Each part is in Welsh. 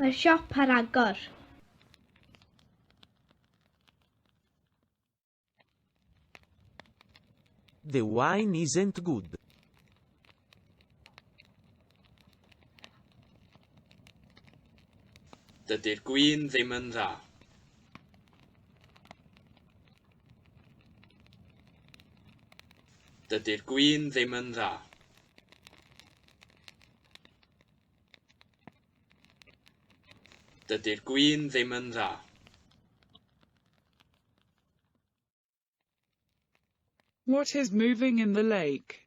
Mae'r siop ar agor. The wine isn't good. Dydy'r gwin ddim yn dda. Dydy'r gwin ddim yn dda. Dydy'r gwin ddim yn dda. What is moving in the lake?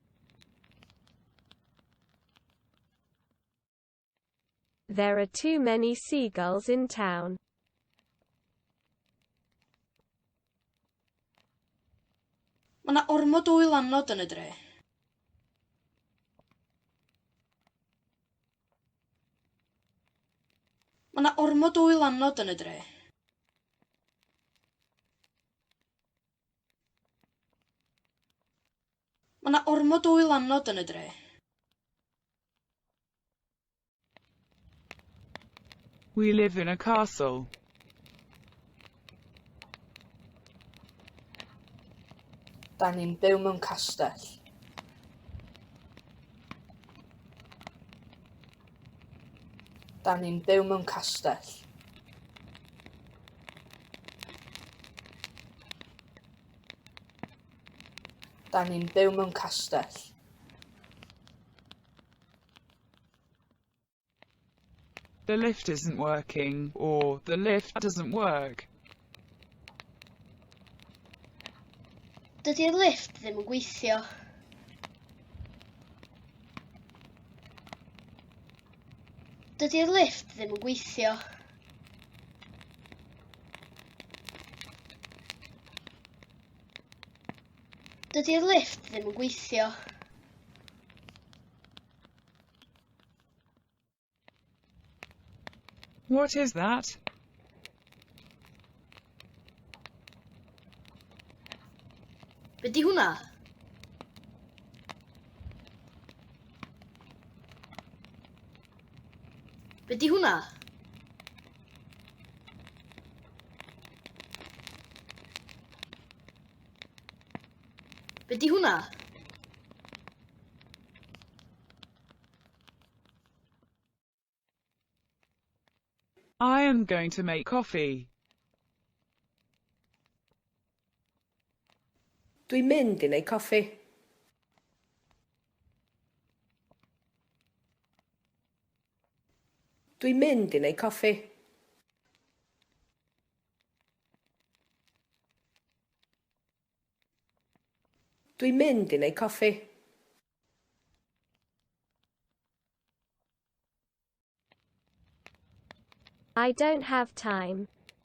There are too many seagulls in town. Mae yna ormod o wylanod yn y dre. Mae yna ormod o wylanod yn y dre. Mae 'na ormod o wylanod yn y dre. We live in a castle. Da ni'n byw mewn castell. Da ni'n byw mewn castell. Da ni'n byw mewn castell. The lift isn't working or the lift doesn't work. Dydy'r lift ddim yn gweithio. Dydy'r lift ddim yn gweithio. Dydy'r lift ddim yn gweithio. What is that? Be di hwnna? Be di hwnna? Be di hwnna? I am going to make coffee. Dwi'n mynd i wneud coffi. Dwi'n mynd i neud coffi. Dwi'n mynd i neud coffi. I don't have time.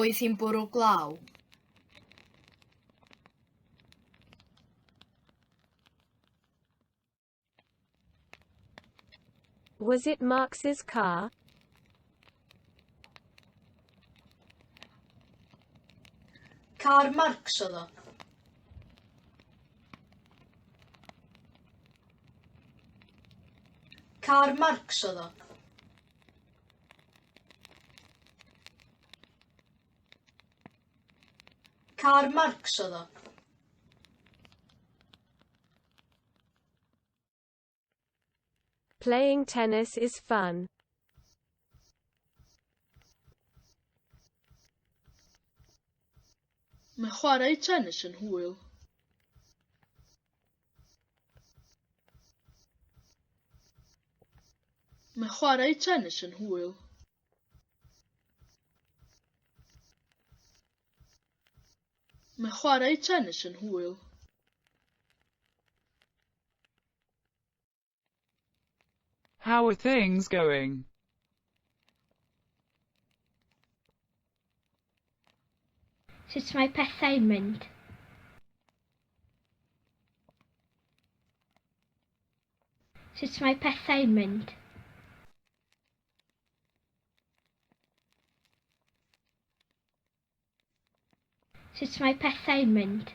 Oedd hi'n bwrw glaw? Was it Marx's car? Car Marx oedd o. Karl Marx oedd o. Karl Marx oedd o. Playing tennis is fun. Mae chwarae tennis yn hwyl. Mae chwarae tennis yn hwyl. Mae chwarae tennis yn hwyl. How are things going? Sut mae pethau'n mynd? Sut mae pethau'n mynd? Sut mae pethau'n mynd?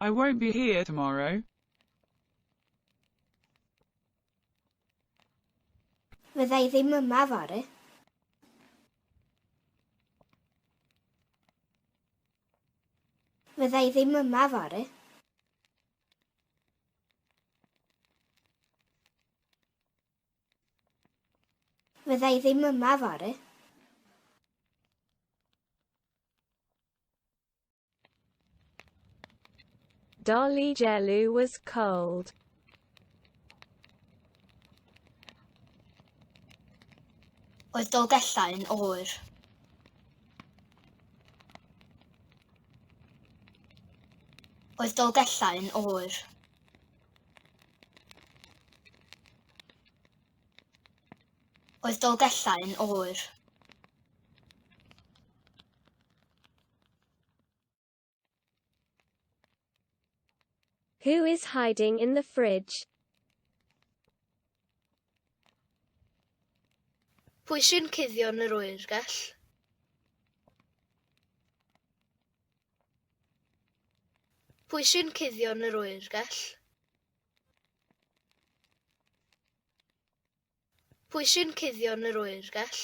I won't be here tomorrow. Fydda i ddim yma fory. Fydda i ddim yma fory. Fydda i ddim yma fory. Dolly Jelly was cold. Oedd Dolgellau yn oer. Oedd Dolgellau yn oer. Oedd Dolgellau yn oer. Who is hiding in the fridge? Pwy sy'n cuddio yn yr oergell? Pwy sy'n cuddio yn yr oergell? Pwy sy'n cuddio yn yr oergell?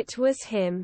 It was him.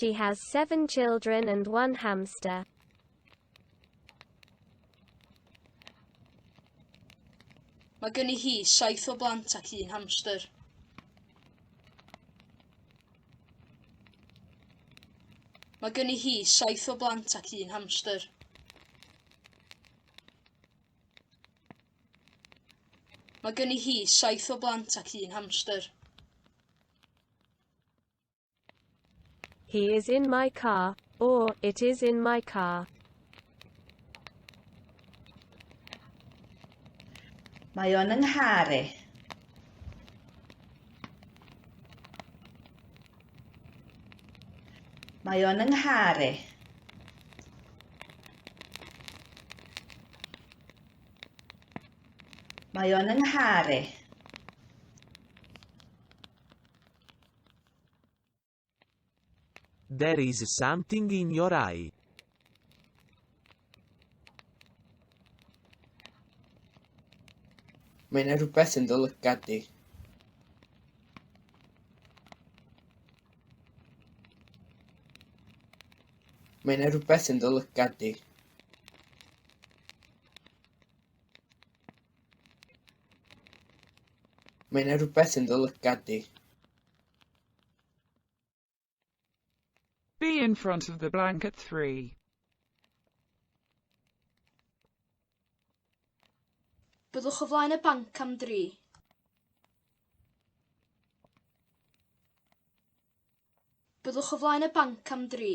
She has seven children and one hamster. Mae gen i hi saith o blant ac un hamster. Mae gen i hi saith o blant ac un hamster. Mae gen i hi saith o blant ac un hamster. He is in my car, or it is in my car. Mae o'n yng nghar i. Mae o'n yng nghar i. Mae o'n yng nghar i. There is something in your eye. Mae yna rhywbeth yn dy lygad di. Mae yna rhywbeth yn dy lygad di. Mae yna rhywbeth yn dy lygad di. Be in front of the blank at three. Byddwch o flaen y banc am dri. Byddwch o flaen y banc am dri.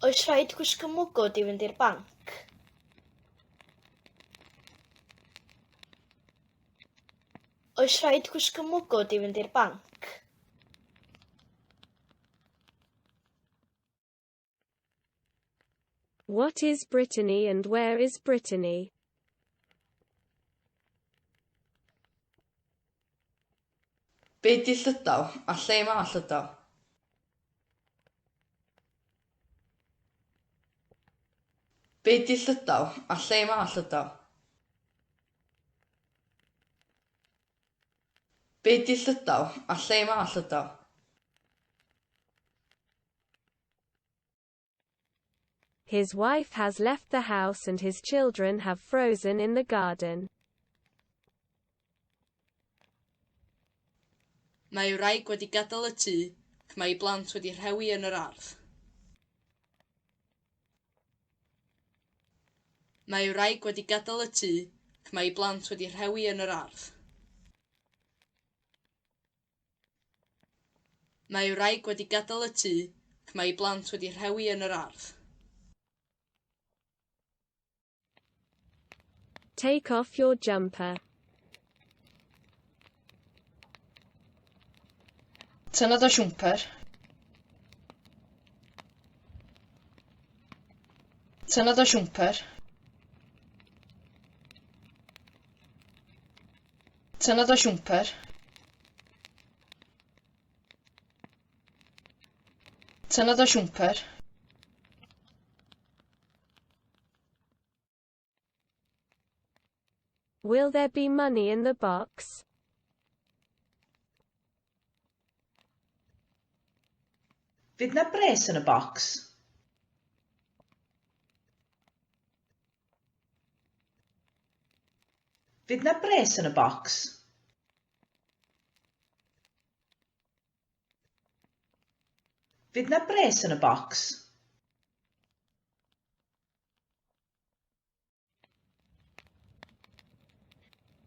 Oes rhaid gwisgo mwgwd i fynd i'r banc? Oes rhaid gwisgo mwgwd i fynd i'r banc? What is Brittany and where is Brittany? Be di Llydaw? A lle mae Llydaw? Be di Llydaw? A lle mae Llydaw? Be di Llydaw? A lle mae Llydaw? His wife has left the house and his children have frozen in the garden. Mae ei wraig wedi gadael y tŷ ac mae ei blant wedi rhewi yn yr ardd. Mae ei wraig wedi gadael y tŷ ac mae ei blant wedi rhewi yn yr ardd. Mae ei wraig wedi gadael y tŷ ac mae ei blant wedi rhewi yn yr ardd. Take off your jumper. Tynna dy siwmper. Tynna dy siwmper. Tynnodd o siwmper. Tynnodd o siwmper. Will there be money in the box? Fydd na bres yn y bocs? Fydd 'na bres yn y bocs? Fydd 'na bres yn y bocs?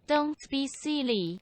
Don't be silly.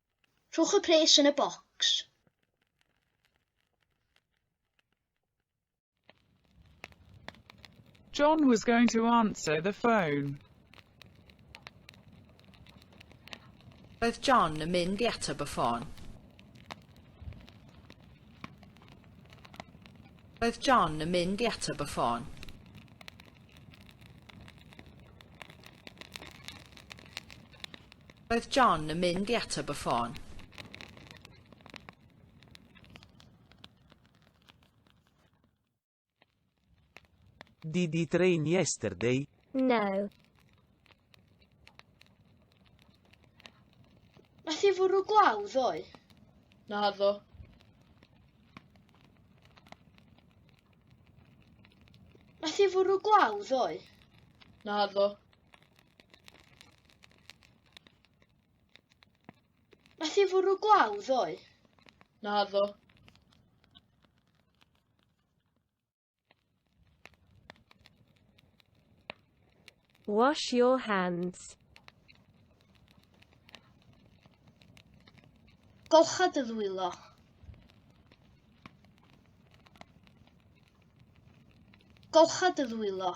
Rhowch y pres yn y bocs. John was going to answer the phone. Roedd John yn mynd i ateb y ffôn. Roedd John yn mynd i ateb y ffôn. Roedd John yn mynd i ateb y ffôn. Did it rain yesterday? No. Nath i fwrw glaw ddoe? Na ddo. Nath i fwrw glaw ddoe? Na ddo. Nath i fwrw glaw ddoe? Na ddo. Wash your hands. Golcha dy ddwylo. Golcha dy ddwylo.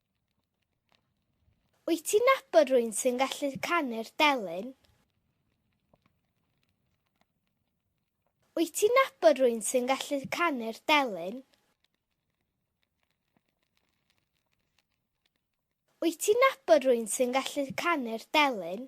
Wyt ti'n nabod rwy'n sy'n gallu canu'r delyn? Wyt ti'n nabod rwy'n sy'n gallu canu'r delyn? Wyt ti'n nabod rwy'n sy'n gallu canu'r delyn?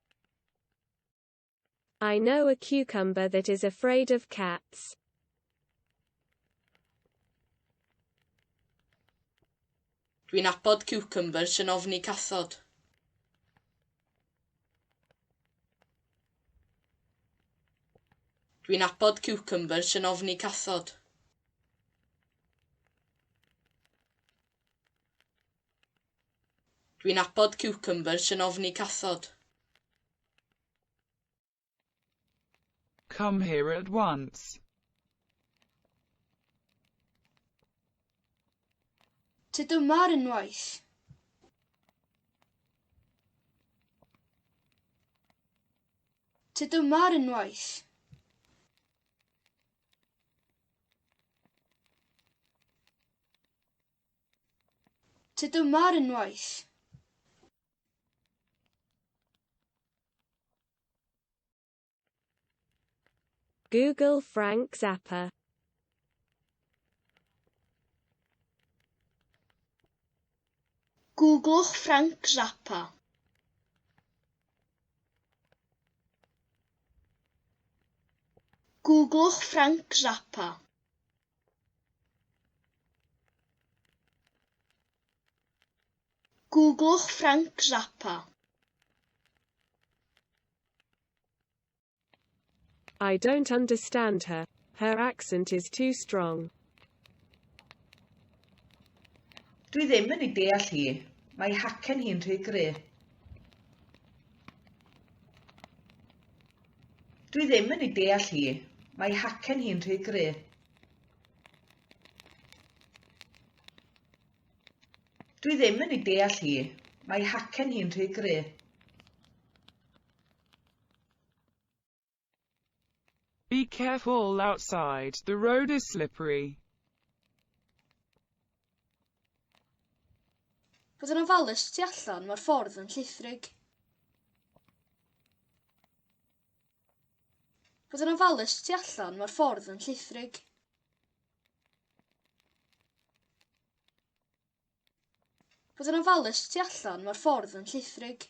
I know a cucumber that is afraid of cats. Dwi'n abod cucumber sy'n ofni cathod. Dwi'n abod cucumber sy'n ofni cathod. Dwi'n abod ciwcymbyrs yn ofni cathod. Come here at once. Tyd yma ar unwaith. Tyd yma ar unwaith. Tŷ dyma ar unwaith. Google Frank Zappa. Googlwch Frank Zappa. Googlwch Frank Zappa. Googlwch Frank Zappa. I don't understand her. Her accent is too strong. Dwi ddim yn ei deall hi. Mae hacen hi'n rhy gry. Dwi ddim yn ei deall hi. Mae hacen hi'n rhy gry. Dwi ddim yn ei deall hi. Mae hacen hi'n rhy gry. Be careful outside, the road is slippery. Fod yn ofalus tu allan, mae'r ffordd yn llithrig. Fod yn ofalus tu allan, mae'r ffordd yn llithrig. Fod yn ofalus tu allan, mae'r ffordd yn llithrig.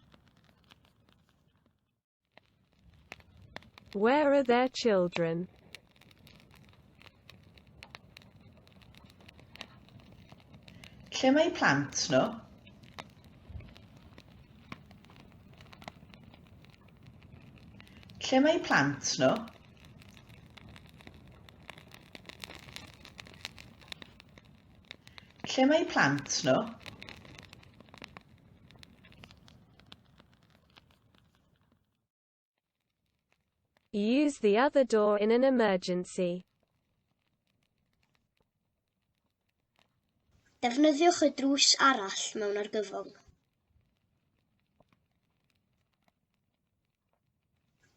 Where are their children? Lle mae plant nhw? Lle mae plant nhw? Lle mae eu plant nhw? Use the other door in an emergency. Defnyddiwch y drws arall mewn argyfwng.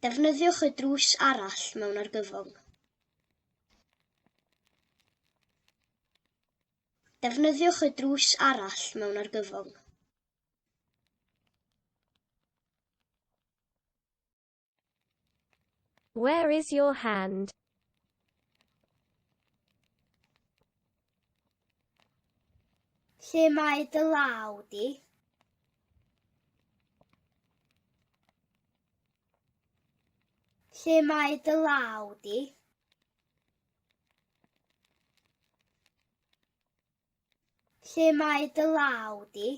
Defnyddiwch y drws arall mewn argyfwng. Defnyddiwch y drws arall mewn argyfwng. Where is your hand? Lle mae dy law di? Lle mae dy law di? Lle mae dy law di?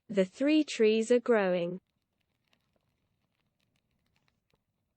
The three trees are growing.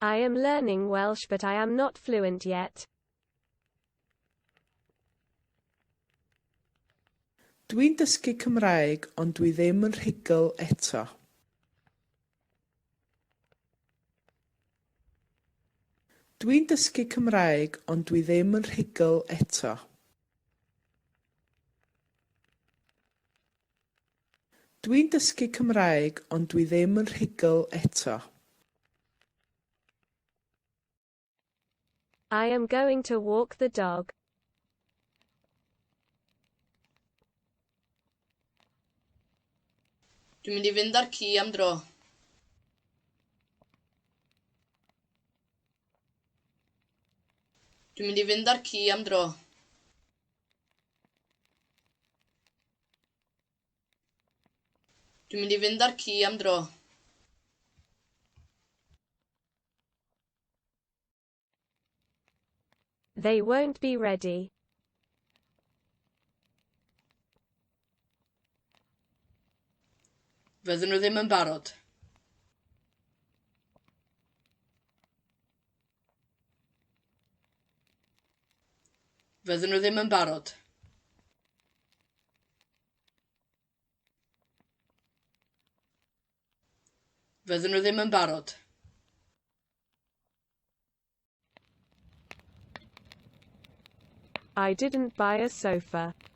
I am learning Welsh but I am not fluent yet. Dwi'n dysgu Cymraeg ond dwi ddim yn rhugl eto. Dwi'n dysgu Cymraeg ond dwi ddim yn rhugl eto. Dwi'n dysgu Cymraeg ond dwi ddim yn rhugl eto. I am going to walk the dog. Dwi'n mynd i fynd â'r ci am dro. Dwi'n mynd i fynd â'r ci am dro. Dwi'n mynd i fynd â'r ci am dro. They won't be ready. Fydden nhw ddim yn barod. Fydden nhw ddim yn barod. Fydden nhw ddim yn barod. I didn't buy a sofa.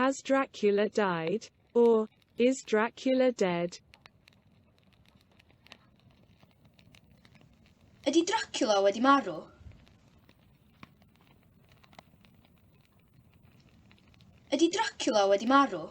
Has Dracula died? Or, is Dracula dead? Ydy Dracula wedi marw? Ydy Dracula wedi marw?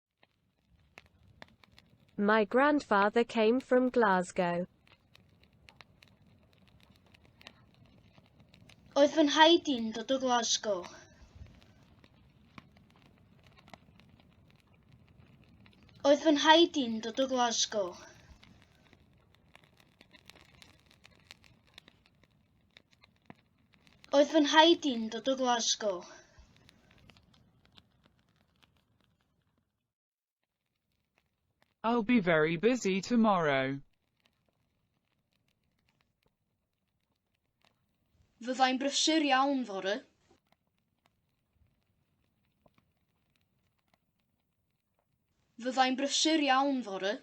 My grandfather came from Glasgow. Oedd fy nhaid i'n dod o Glasgow. Oedd fy nhaid i'n dod o Glasgow. Oedd fy nhaid i'n dod o Glasgow. I'll be very busy tomorrow. Fyddai'n brysur iawn fory. Fyddai'n brysur iawn fory.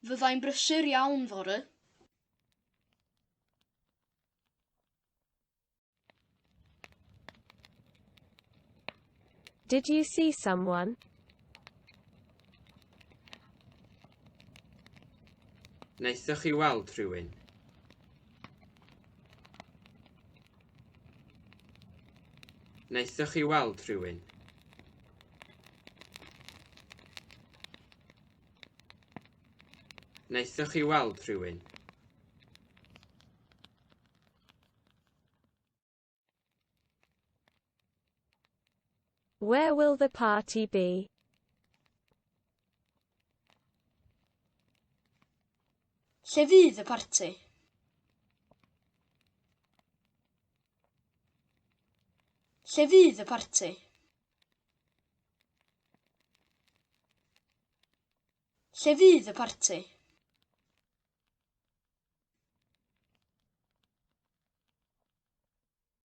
Fyddai'n brysur iawn fory. Did you see someone? Wnaethoch chi weld rhywun? Wnaethoch chi weld rhywun? Wnaethoch chi weld rhywun? Where will the party be? Lle fydd y parti? Lle fydd y parti? Lle fydd y parti?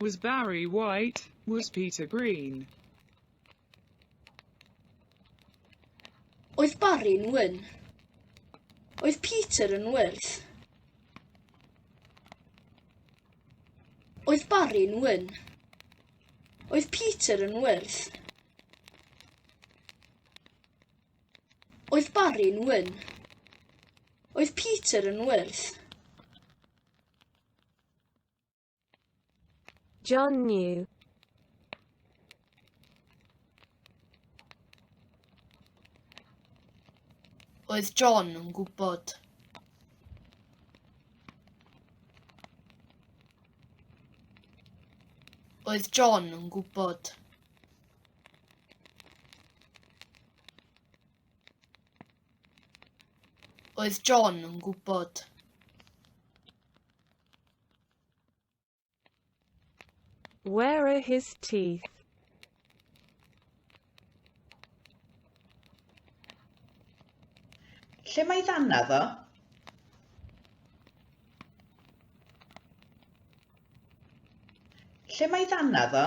Was Barry white? Was Peter green? Oedd Barry'n wyn? Oedd Peter yn wyrdd? Oedd Barry'n wyn? Oedd Peter yn wyrdd? Oedd Barry'n wyn? Oedd Peter yn wyrdd? John knew. Oedd John yn gwybod? Oedd John yn gwybod? Oedd John yn gwybod? Where are his teeth? Lle mae ddanna ddo? Lle mae ddanna ddo?